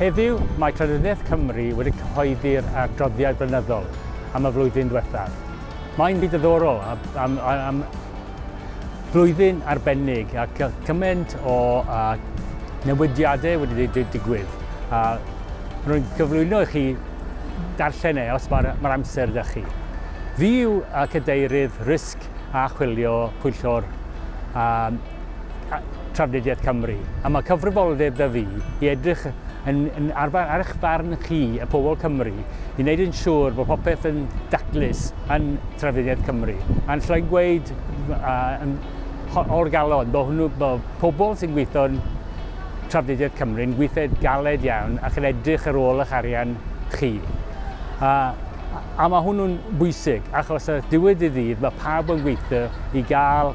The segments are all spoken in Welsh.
Heddiw, mae Llenyddiaeth Cymru wedi cyhoeddi'r adroddiad blynyddol am y flwyddyn ddiwethaf. Mae'n fyd ddiddorol a, am, am flwyddyn arbennig ac cymaint o a, newidiadau wedi digwydd. A rwy'n cyflwyno i chi darllen e os mae'r mae amser da chi. Fi yw cadeirydd risg a chwilio pwyllgor Trafnidiaeth Cymru, a mae cyfrifoldeb 'da fi i edrych yn, yn ar, ar eich farn chi, y pobl Cymru, i wneud yn siŵr bod popeth yn daclus yn Trafnidiaeth Cymru. A'n llai gweud uh, o'r galon, bod hwnnw, bod pobl sy'n gweithio yn Trafnidiaeth Cymru yn gweithio galed iawn ac yn edrych ar ôl eich arian chi. A, a mae hwnnw'n bwysig, achos y diwedd i ddydd mae pawb yn gweithio i gael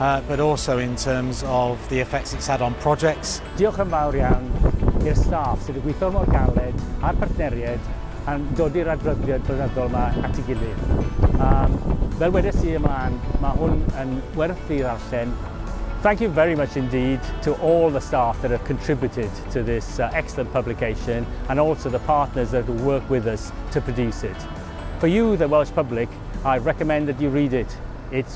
uh, but also in terms of the effects it's had on projects. Diolch yn fawr iawn i'r staff sydd wedi gweithio mor galed a'r partneriaid a'n dod i'r adroddiad blynyddol yma at ei gilydd. Um, fel wedes i ymlaen, mae hwn yn werth i ddarllen. Thank you very much indeed to all the staff that have contributed to this uh, excellent publication and also the partners that have worked with us to produce it. For you, the Welsh public, I recommend that you read it. It's